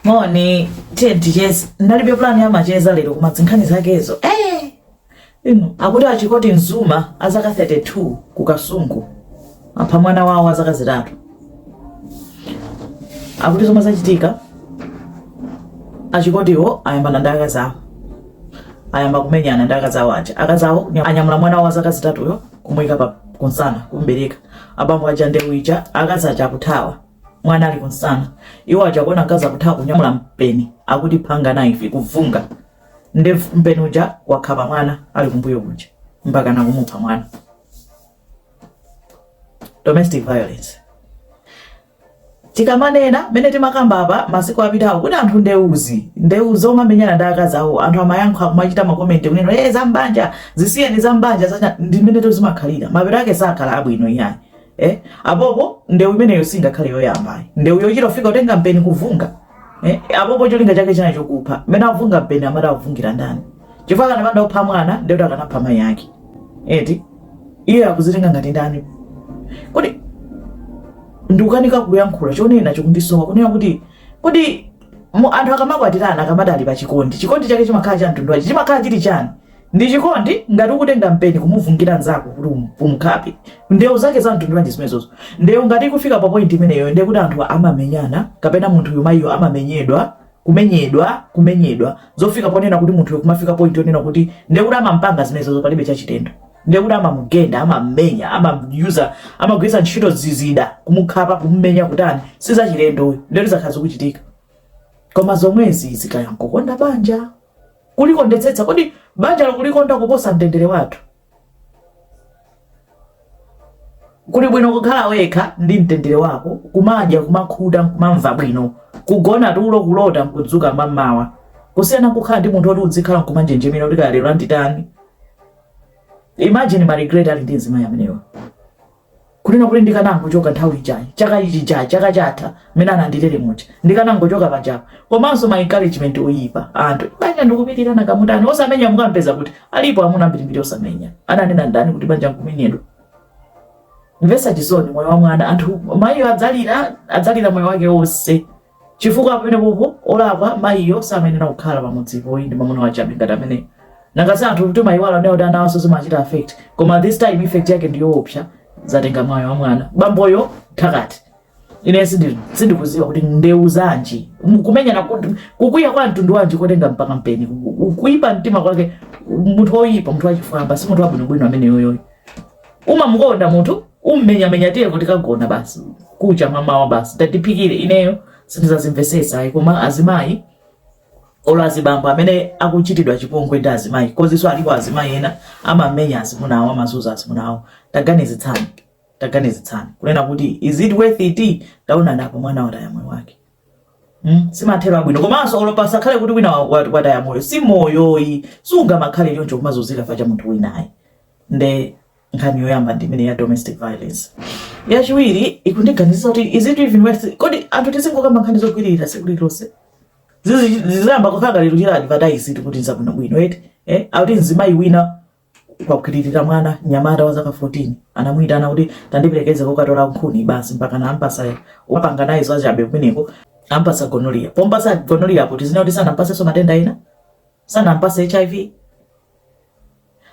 moni ndinalibe pulani yamacheza lero koma zinkhani zakezo eh! inu akuti achikoti Nzuma azaka 32 ku kasungu apha mwana wawo azaka zitatu akuti zomwe zachitika achikotiwo ayambana ndi akazi awo ayamba kumenyana ndi akazi awo aja akazi awo anyamula mwana wawo azaka zitatuyo kumuyika pa kunsana kumbereka abambo aja ndewija akazi aja akuthawa mwana ali kunsana iwo aja kuona mkazi akuthawa kunyamula mpeni akuti phanga knife kuvunga nde mpeni uja wakhapa mwana ali kumbuyo kuja mpaka nakumupha mwana domestic violence tikamanena mene timakamba apa masiku apitawo kuti anthu ndewuzi ndewuzi omamenyana ndi akazi awo anthu amayankha kumachita makomenti kunena e zambanja zisiyeni zambanja za chani ndi mene tozimakhalira mapeto ake sakhala abwino iyayi eh? apopo ndewu imeneyo singakhale yoyamba ayi ndewu yochita kufika kutenga mpeni kuvunga eh? apopo cholinga chake chinali chokupha mmene avunga mpeni amati avungira ndani chifukwa akanapanda kupha mwana ndekuti akanapha mayi ake eti iye akuzitenga ngati ndani kodi ndikukanika kuyankhula chonena chikundisowa kunena kuti kodi mu- anthu akamakwatirana akamati ali pa chikondi chikondi chake chimakhala cha mtundu wanji chimakhala chili chani Ndi chikondi ngati ukutenga mpeni kumuvungira nzako kuti um, umkhape. Ndewu zake za mtundu wanji zimenezozo? Ndewu ngati ikufika pa point imeneyo ndiye kuti anthu amamenyana kapena munthuyo mayiyo amamenyedwa kumenyedwa kumenyedwa zofika ponena kuti munthuyo kumafika point yonena kuti ndiye kuti amampanga zimenezozo palibe chachilendo ndiye kuti amamugenda amammenya amagwiritsa ntchito zizida kumukhapa kumumenya kutani si zachilendo ndiye kuti zakhala zikuchitika koma zomwezi zikaya nkokonda banja kulikondetsetsa? Kodi banjalo kulikonda kuposa mtendere wathu? Kuli bwino kukhala wekha ndi mtendere wako, kumadya, kumakhuta, nkumamva bwino, kugona tulo, kulota, nkudzuka mammawa, kusiyana nkukhala ndi munthu oti udzikhala nkumanjenjemera kuti kaya lero anditani. Imagine ma regret ali ndi mzimayi ameneyu. Kunena kuti ndikanangochoka nthawi ijayi, chaka chija, chaka chatha mmene anandimenyera muja, ndikanangochoka pabanjapa komanso ma encouragement oyipa a anthu, banja ndikupilira nanga mutani? Osamenya mukampeza kuti? Alipo amuna ambirimbiri osamenya. Ananena ndani kuti banja nkumenyedwa? Kumvetsa chisoni moyo wa mwana anthu, mayiyo adzalira, adzalira moyo wake onse. Chifukwa pamenepopo olakwa mayiyo samayenera kukhala pamudzipo ayi ndi mamuna wachabe ngati ameneyo. Nanga si anthutu timaiwala kunena kuti anawanso zimawachita affect. Koma this time effect yake ndi yoopsa, zatenga moyo wa mwana. Bamboyo mthakati. Ine sindikudziwa kuti ndewu zanji, kumenyana, kukwiya kwa mtundu wanji kotenga mpaka mpeni, kuipa mtima kwake, munthu woipa, munthu wachifwamba, si munthu wabwinobwino ameneyoyoyo. umamukonda munthu ummenyamenya tiyeko tikagona basi kucha mamawa basi tatiphikire ineyo sindizazimvesetsa ayi koma azimayi olo azibambo amene akuchitidwa chipongwe ndi azimayi komanso alipo azimayi ena amamenya azimuna awo amazuza azimuna awo taganizitsani taganizitsani kunena kuti is it worth it taonani apa mwana wataya moyo wake Mm, simathero abwino komanso olo pasakhale kuti wina wataya moyo si moyo ayi sungamakhale choncho kumazunzika ifa cha munthu wina ayi nde nkhani yoyamba ndi imene ya domestic violence yachiwiri ikundiganizisa kuti is it even worth kodi anthu tizingokamba nkhani zogwiririra tsiku lililonse zizayamba kukhala ngati tikuchita advertise kuti nzabwinobwino eti eh akuti mzimayi wina wagwiririra mwana nyamata wa zaka 14 anamuyitana kuti tandiperekeze kokatola nkhuni basi mpaka na ampasa wapanga naye zachabe kumeneko ampasa gonorrhea pompasa gonorrhea sitidziwa kuti sanampasenso matenda ena sanampasa hiv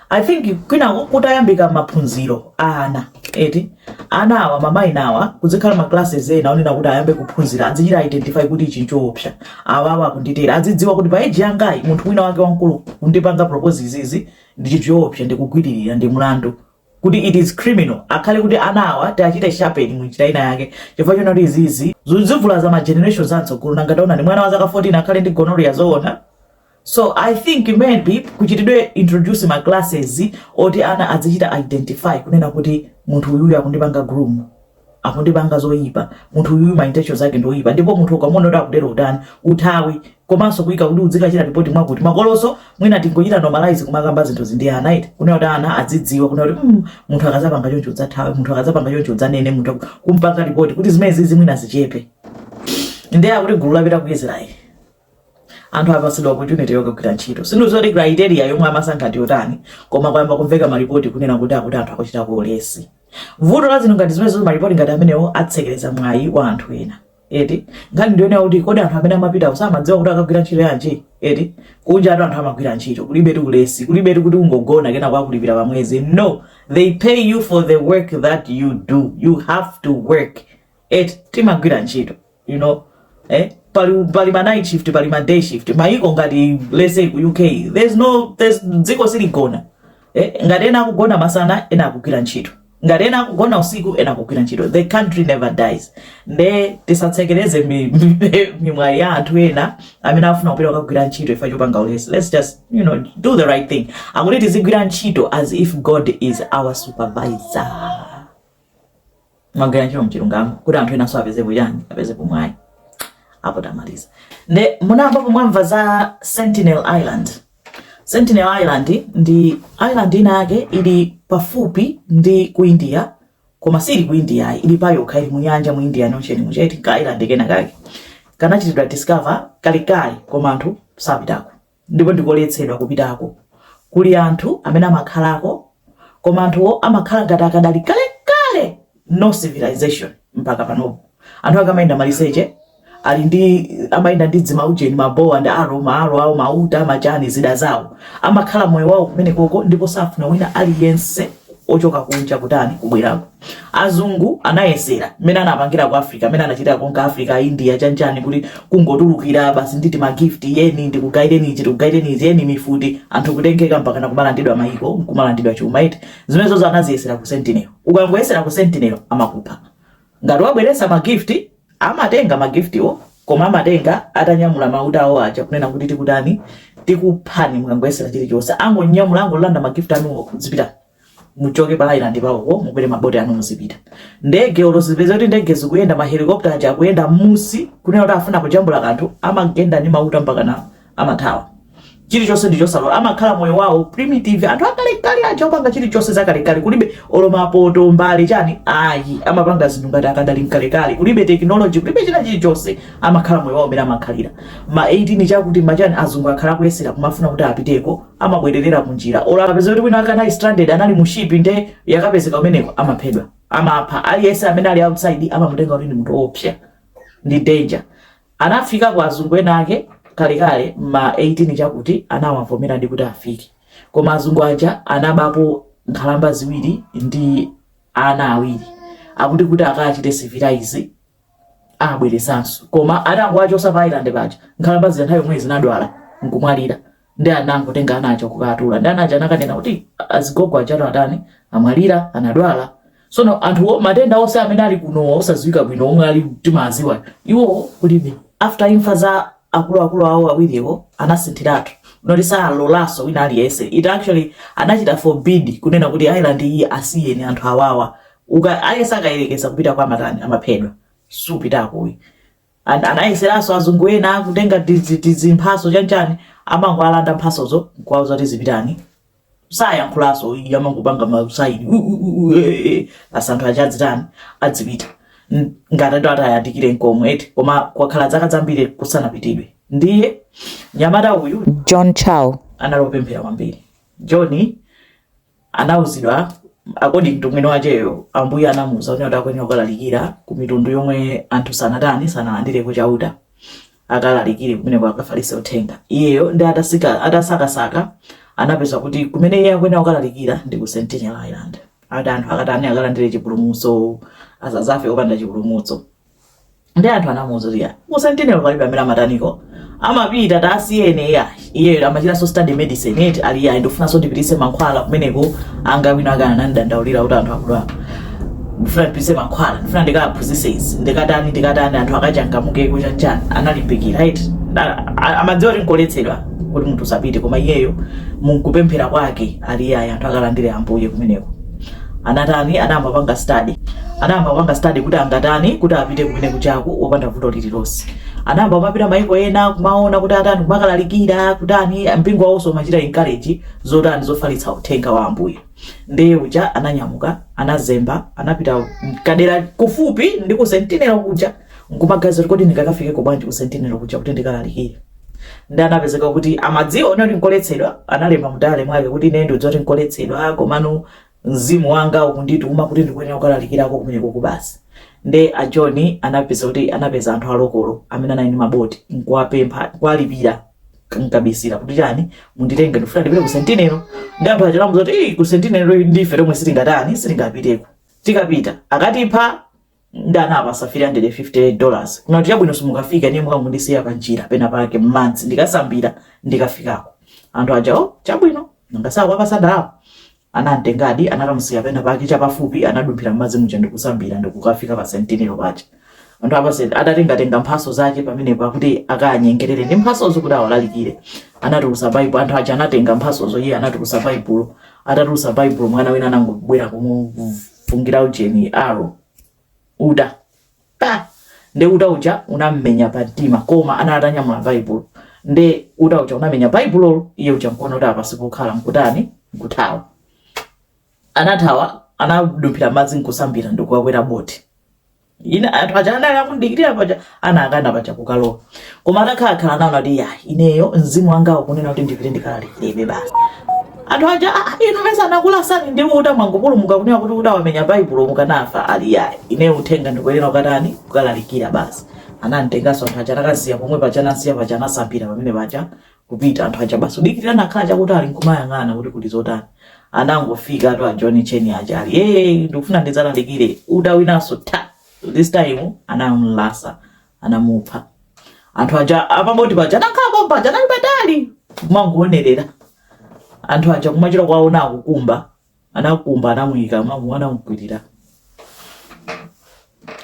i think mwina kutayambika maphunziro a ana eti ana awa ma minor awa kuzikhala ma classes ena onena kuti ayambe kuphunzira adzichita identify kuti ichi nchoopsa awawa akunditera azidziwa kuti pa age yangayi munthu wina wake wamkulu kundipanga propose izizi ndi chinthu choopsa ndikugwiririra ndi mlandu kuti it is criminal akhale kuti ana awa tiachite sharpen mu njira ina yake chifukwa chonena kuti izizi zizivulaza ma generations amtsogolo nanga taonani mwana wa zaka 14 akhale ndi gonorrhea zoona So I think maybe kuchitidwe introduce ma classes oti ana azichita identify kunena kuti munthu uyuyu akundipanga groom akundipanga zoyipa munthu uyuyu ma intentions ake ndi oyipa ndipo munthu ukamona kuti akutero utani uthawi komanso kuyika kuti udzikachita report mwakuti makoloso mwina tingochita normalize kumakamba zinthuzi ndi ana eti kunena kuti ana adzidziwa kunena kuti mm, munthu akazapanga choncho udzathawe munthu akazapanga choncho udzanene munthu aku- kumpanga report kuti zimene zizi mwina zichepe ndiye akuti gulu lapita ku israeli anthu apatsidwa opportunity yokagwira ntchito sindidziwa kuti criteria yomwe amasankha ndi yotani koma kwayamba kumveka malipoti kunena kuti akuti anthu akuchitako ulesi vuto la zinthu ngati zimenezo malipoti ngati amenewo atsekereza mwayi wa anthu ena eti nkhani ndiyonena kuti kodi anthu amene amapitako samadziwa kuti akagwira ntchito yanji eti kunjatu anthu amagwira ntchito kulibe eti ulesi kulibe eti kuti ungogona kenako akulipira pa mwezi no they pay you for the work that you do you have to work eti timagwira ntchito you know eh pali pali ma night shift pali ma day shift maiko ngati let's say ku UK there's no there's dziko siligona eh ngati ena akugona masana ena akugwira ntchito ngati ena akugona usiku ena akugwira ntchito the country never dies nde tisatsekereze mimwayi ya anthu ena amene afuna kupita kukagwira ntchito ifa chopanga ulesi let's just you know do the right thing akuti tizigwira ntchito as if god is our supervisor magwira ntchito mchilungamo kuti anthu enanso apezepo chani apezepo mwayi apo tamaliza nde munayambapo mwamva za sentinel island sentinel island ndi island ina yake ili pafupi ndi ku india koma sili ku india ayi, ili payokha ili mu nyanja mu Indian Ocean mu, nde ndi ka island kena kake kanachitidwa discover kalekale koma anthu sapitako ndipo ndikoletsedwa kupitako. Kuli anthu amene amakhalako, koma anthuwo amakhala ngati akadali kale kale no civilization mpaka panopo. Anthu akamayenda maliseche ali ndi amayenda ndi dzimaujeni mabowa ndi arrow maarrow awo mauta machani zida zawo amakhala moyo wawo kumenekoko ndipo safuna wina aliyense ochoka kunja kutani kubwerako. Azungu anayesera, mmene anapangira ku Africa, mmene anachitira konka Africa, India, chani chani, kuti kungotulukira basi ndi tima gift, yeni ndikugaireni ichi, tikugaireni izi, yeni mifuti, anthu kutengeka mpakana kumalandidwa maiko, nkumalandidwa chuma eti. Zimenezozo anaziyesera ku Sentinel. Ukangoyesera ku Sentinel, amakupha. Ngati wabweretsa ma gift, amatenga ma gift wo, koma amatenga atanyamula mauta awo aja kunena kuti tikutani, tikuphani mukangoyesera chilichonse. Angonyamula, angolanda ma gift anuwo, zipitani. muchoke pa island pawopo mukwere maboti anu muzipita ndege olo zipezeka kuti ndege zikuyenda mahelikopta aja akuyenda m'munsi kunena kuti afuna kujambula kanthu amagenda ndi mauta mpaka na amathawa chilichonse ndi chosalola amakhala moyo wawo primitive anthu akalekale aja opanga chilichonse zakalekale kulibe olo mapoto mbale chani ayi amapanga zinthu ngati akadali mkalekale kulibe technology kulibe china chilichonse amakhala moyo wawo mmene amakhalira ma 18 chakuti machani azungu akhala akuyesera kumafuna kuti apiteko amabwererera kunjira olo akapezeka kuti wina wake anali stranded anali mu ship nde yakapezeka kumeneko amaphedwa amapha aliyense amene ali outside amamutenga kuti ndi munthu woopsa ndi danger anafika kwa azungu ena ake kalekale ma 18 chakuti anawavomeradi kuti afike koma azungu aja anabapo nkhalamba ziwiri ndi ana awiri akuti kuti akachite civilize abweretsenso koma atangowachosa pa island paja nkhalamba zija nthawi yomweyo zinadwala nkumwalira nde anangotenga ana aja kukatula nde ana aja anakanena kuti azigogo aja atani amwalira anadwala sono anthuwo matenda onse amene ali kunowa odziwika bwino omwe ali timawaziwa iwo kulibe after imfa za akuluakulu awo awiriwo anasinthiratu moti salolanso wina aliyense India actually anachita forbid kunena kuti island iyi asiyeni anthu awawa uka ayesa akayerekeza kupitako amatani amaphedwa supitako uyi and anayeseranso azungu ena kutenga tizi- tizimphaso chanchani amangowalanda mphasozo nkuwauza kuti zipitani sayankhulanso ayi amangopanga masaini u- u- u- u- eh, eh, basi anthu aja adzitani adzipita N- ngati ati ati ayandikire nkomwe eti koma kwakhala zaka zambiri kusanapitidwe ndiye nyamata uyu John Chau, anali opemphera kwambiri john anauzidwa according to mwini wacheyo ambuye anamuuza kuti akwenera kukalalikira ku mitundu yomwe anthu sanatani sanalandire ku chauta akalalikire kumeneko akafalitse uthenga iyeyo nde atasaka atasakasaka anapeza kuti kumene iye akwenera kukalalikira ndi ku sentinel island ati anthu akatani akalandire chipulumutso asazafe opanda chipulumutso nde anthu anamuuza kuti ya ku sentinel palibe amene amataniko amapita tasiyeni ya iyeyo amachitanso study medicine eti ali ya ndikufunanso ndipitise mankhwala kumeneko anga wina akhala anandidandaulira kuti anthu akudwala ndifuna ndipitise mankhwala ndifuna ndikaphunzise izi ndikatani ndikatani anthu akachangamukeko chanchani analimbikira eti A- a- amadziwa kuti nkoletsedwa kuti munthu usapite koma iyeyo mukupemphera kwake ali yayi anthu akalandire ambuye kumeneko anatani anayamba kupanga study anayamba kupanga study kuti angatani kuti apite kumene kujaku opanda vuto lililonse anayamba kumapita maiko ena kumaona kuti atani kumakalalikira kutani mpingo wawonso umachita encourage zotani zofalitsa uthenga wa ambuye ndiye uja ananyamuka anazemba anapita kadera kufupi ndi ku sentinelo kuja nkumaganiza kuti kodi ndingakafikeko bwanji ku sentinelo kuja kuti ndikalalikire nde anapezeka kuti amadziwa kuti nkoletsedwa analemba mu diary mwake kuti ine ndikudziwa zoti nkoletsedwa komano mzimu wanga ukundituma kuti ndikuyenera kukalalikirako kumenekoku basi nde a john anapeza kuti anapeza anthu a local amene anali ndi maboti nkuwapempha kuwalipira nkabisira kuti chani munditenge ndifuna ndipite ku sentinelo nde anthu aja anamuuza kuti "Ii, ku sentinelo ndife tomwe sitingatani sitingapiteko tikapita akatipha nde anawapasa 350 dollars kunena kuti chabwino simukafika ndiye mukangondisiya pa njira pena pake mmadzi ndikasambira ndikafikako anthu aja o chabwino nanga si wawapasa ndalama anamtengadi anakamusiya pena pake chapafupi anadumphira mmadzi muja ndikusambira ndikukafika pa sentinelo paja anthu apa senti atatengatenga mphaso zake pamenepo kuti akanyengerere ndi mphasozo kuti awalalikire anatulusa baibulo anthu aja anatenga mphasozo iye anatulusa baibulo atatulusa baibulo mwana wina anangobwera kufungira ujeni arrow uta pa nde uta uja unammenya pa mtima koma anali atanyamula baibulo nde uta uja unamenya baibulolo iye uja kuona kuti apa sipokhala nkutani nkuthawa anathawa anadumphira mmadzi nkusambira ndikukakwera boti nde anthu aja anali akumdikirira paja anakana paja kukalowa koma atakhala khala nawo anati ya ineyo mzimu wanga ukunena kuti ndipite ndikalalikirebe basi anthu aja "Ah, ah, inu mesa anakulasani ndi uta mwangopulumuka kunena kuti uta wamenya baibulo mukanafa ali ya ineyo uthenga ndikuyenera kukatani kukalalikira basi anamtenganso anthu aja anakamsiya pomwe paja anamsiya paja anasambira pamene paja kupita anthu aja basi udikirira anakhala chakutali nkumayang'ana kuti kuli zotani anangofikatu a John Cheni aja ali eh ndikufuna ndidzalalikire uta winanso ta this time anamlasa anamupha anthu aja apaboti paja anakhala pompaja anali patali kumangoonerera anthu aja kumachita kuwaona akukumba anakumba anamuyika mwamu anamukwirira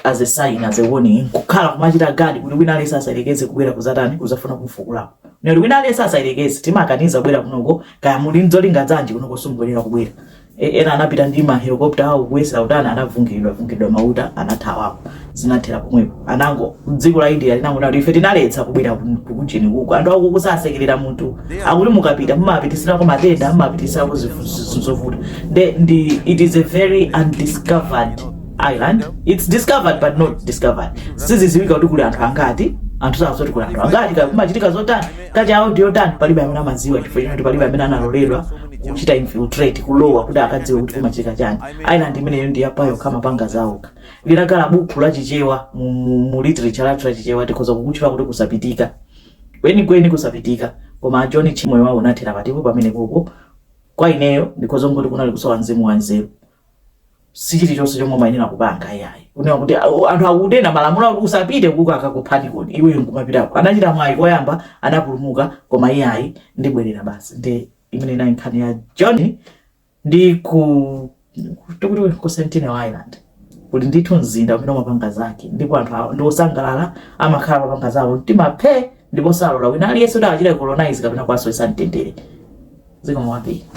as a sign as a warning kukhala kumachita gadi kuti wina aliyense asayerekeze kubwera kuzatani kuzafuna kumfukulapo nali wina aliyense asayerekeze timakaniza kubwera kunoko kaya muli nzolinga zanji kunoko simubwerera kubwera E- ena anapita ndi mahelikopta awo kuyesera kutani anavungiridwa vungiridwa mauta anathawapo zinathera pomwepo anango dziko la india linangonena kuti ife tinaletsa kubwera ku- ku- kujeni kuko anthu akuko sasekerera munthu akuti mukapita mumapitisirako matenda mumapitisirako zinthu zinthu zovuta Nde- ndi it is a very undiscovered island its discovered but not discovered siziziwika kuti kuli anthu angati anthu sadziwa kuti kuli anthu angati kaya kumachitika zotani culture yawo ndi yotani palibe amene amadziwa chifukwa choti palibe amene analoledwa kuchita infiltrate kulowa kuti akadziwe kuti kumachitika chani island imeneyo ndi yapayokha amapanga zawokha linakhala bukhu la Chichewa mu, mu, mu literature lathu la Chichewa tikhoza kukutchula kuti kusapitika kwenikweni kusapitika koma a John Cheni moyo wawo unathera patipo pamenepopo kwa ineyo ndikhoza kungoti kunali kusowa mzimu wa nzeru si chilichonse chomwe umayenera kupanga iyayi kunena kuti "Au, anthu akunena malamulo akuti usapite kuko akakuphani kodi iweyo nkumapitako anachita mwayi koyamba anapulumuka koma iyayi ndibwerera basi ndi imene inali nkhani ya John ndi ku tikuti ku Sentinel Island kuli ndithu mzinda umene umapanga zake ndipo anthu awo ndi osangalala amakhala amapanga zawo mtima phe ndipo salola wina aliyense kuti achite colonize kapena kuwasowetsa mtendere zikomo kwambiri